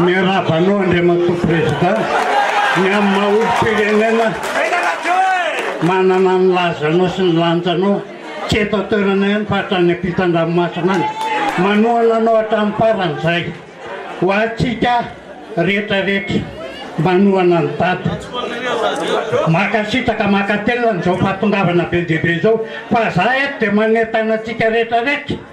Miarahaba anao Andriamatoa Prezida ny amin'ny maha olom-pirenena manana ny lazanao sy ny lanjanao tsy eto an-toerana ihany fa hatrany am-pitan-dranomasina any. Manohana anao hatramin'ny farany izahay. Ho antsika rehetra rehetra manohana an'i Dada. Mankasitraka mankatelina an'izao fahatongavana be dia be izao fa izahay eto dia manentana antsika rehetra rehetra.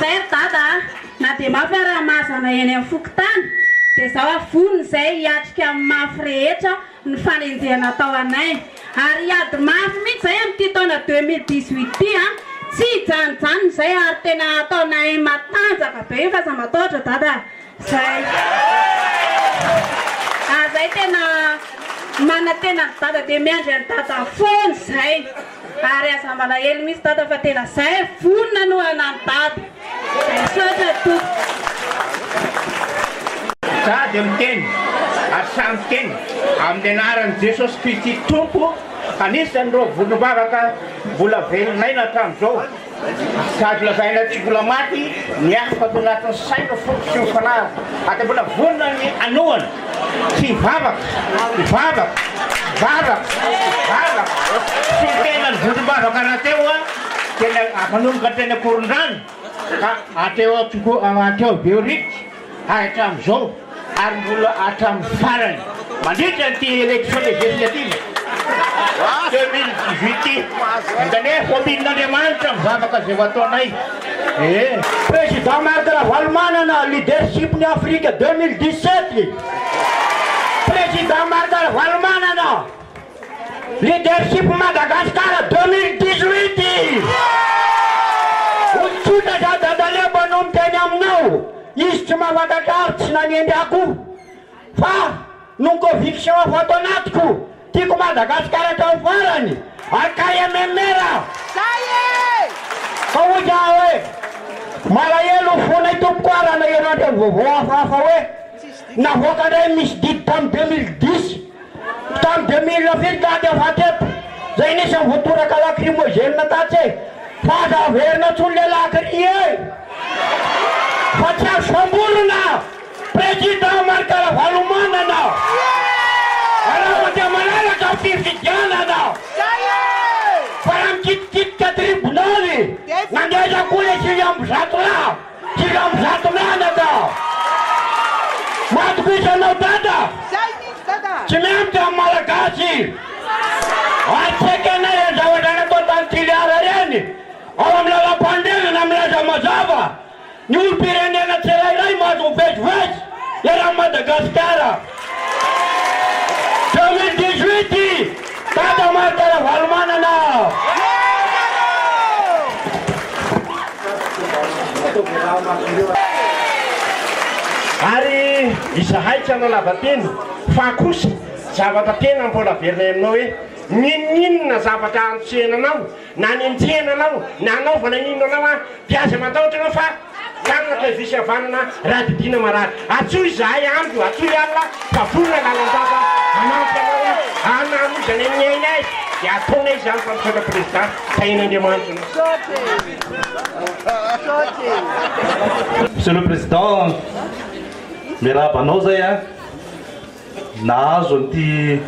Zay ry dada a! Na dia mafy ary ny maha zana eny amin'ny fokontany dia izaho ary vonona izay hiatrika amin'ny mafy rehetra ny fanenjehana atao anay ary hiady mafy mihitsy izay amin'ity taona deux mille dix huit ity a! Tsy hijanonjanona izay ary tena ataonay matanjaka be io fa aza matahotra dada a! Zay! Ah zay tena manantena an'i Dada dia miandry an'i Dada foana izay. Ary aza malahelo mihitsy Dada fa tena zay vonona hanohana an'i Dada. Zay, misaotra Tompoko. Za dia miteny ary sahy miteny amin'ny anaran'i Jesosy Kristy Tompo anisan'ireo volom-bavaka mbola velon'aina hatramin'izao. Sady lazaina tsy mbola maty ny hafa ato anatin'ny saina, foko sy ny fanahy, ary dia mbola vonona ny hanohana sy hivavaka, hivavaka, hivavaka, hivavaka, sy ny tenany vondrom-bavaka rahateo dia manomboka teny Ankorondrano ka hatreo Behoririka. hatramin'izao ary mbola hatramin'ny farany mandritra an'ity élection législative deux mille dix huit ity. Hitany hoe hômin'Andriamanitra ny vavaka izay ho ataonay e! Président Marc Ravalomanana leadership ny Afrique deux mille dix sept Président Marc Ravalomanana. Leadership Madagascar deux mille dix-huit Olon-tsotra za dadaleo mpanompo teny aminao izy tsy mahafatatra ary tsy nanendry akoho fa nony conviction afa ato anatiko tiako Madagascar hatramin'ny farany Akay MMR Fa hoy za hoe malahelo fonay tompoko a raha naheno an'ireo vaovao hafahafa hoe navoaka indray ny misy didy tamin'ny deux mille dix Tamin'ny deux mille fito taty aho faty eto zay nisy ny voatoraka lacrymogène tatsy e! fa aza averina tsony le lacry e! fa tsy azo samborina! Président Marc Ravalomanana! Araho dia malalaka ny fifidianana! fa raha mikitikitika tribonaly, nandeha aiza koa le sivy amby zato lahy? Jiram zato mianaka. Matobisa anao Dada. Zay mihitsy Dada. Tsy miampy amin'ny Malagasy. Atreky anay ireny zavatra natao tany Toliara ireny. Ao amin'ny lalam-panorenana milaza mazava ny olom-pirenena tsirairay mahazo mivezivezy eran'i Madagasikara. Deux mille dix huit Dada Marc Ravalomanana Ary izahay tsy hanao lavateny fa kosa zavatra tena mbola averina eo aminao hoe, N'inon'inona zavatra andosihana anao Nanenjehana anao na hanaovana inona anao aho dia aza matahotra anao fa hiangatra io visy havanana raha didiana marary. Antsoy izahay andro, antsoy alina fa vonona lalandava hanampy anao aho hanamoizana ny ainay dia ataonay izany fa misaotra Président Tahina Andriamanitra anao. Monsieur le Président, miarahaba anao izay an! Nahazo an'ity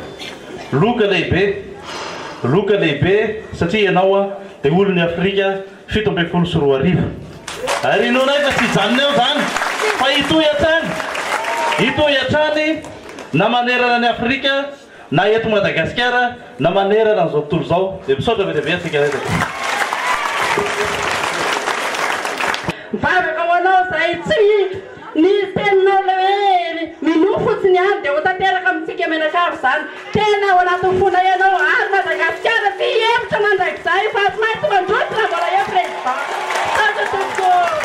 loka lehibe, loka lehibe satria ianao dia olon'i Afrika fito ambin'ny folo sy roa arivo. Ary inoanay fa tsy hijanona eo izany fa hitohy hatrany, hitohy hatrany na manerana an'i Afrika na eto Madagasikara na manerana an'izao tontolo izao. Dia misaotra be dia be antsika rehetra tompoko. Mivavaka ho anao izahay tsy mihinga. Ny teninao le hoe hery, minoa fotsiny any de ho tanteraka amintsika mianakavy zany, tena ao anatin'ny fonay ianao ary Madagasikara tia hihevitra mandrakizay fa tsy maintsy mandroso raha mbola eo Président. Misaotra tompoko.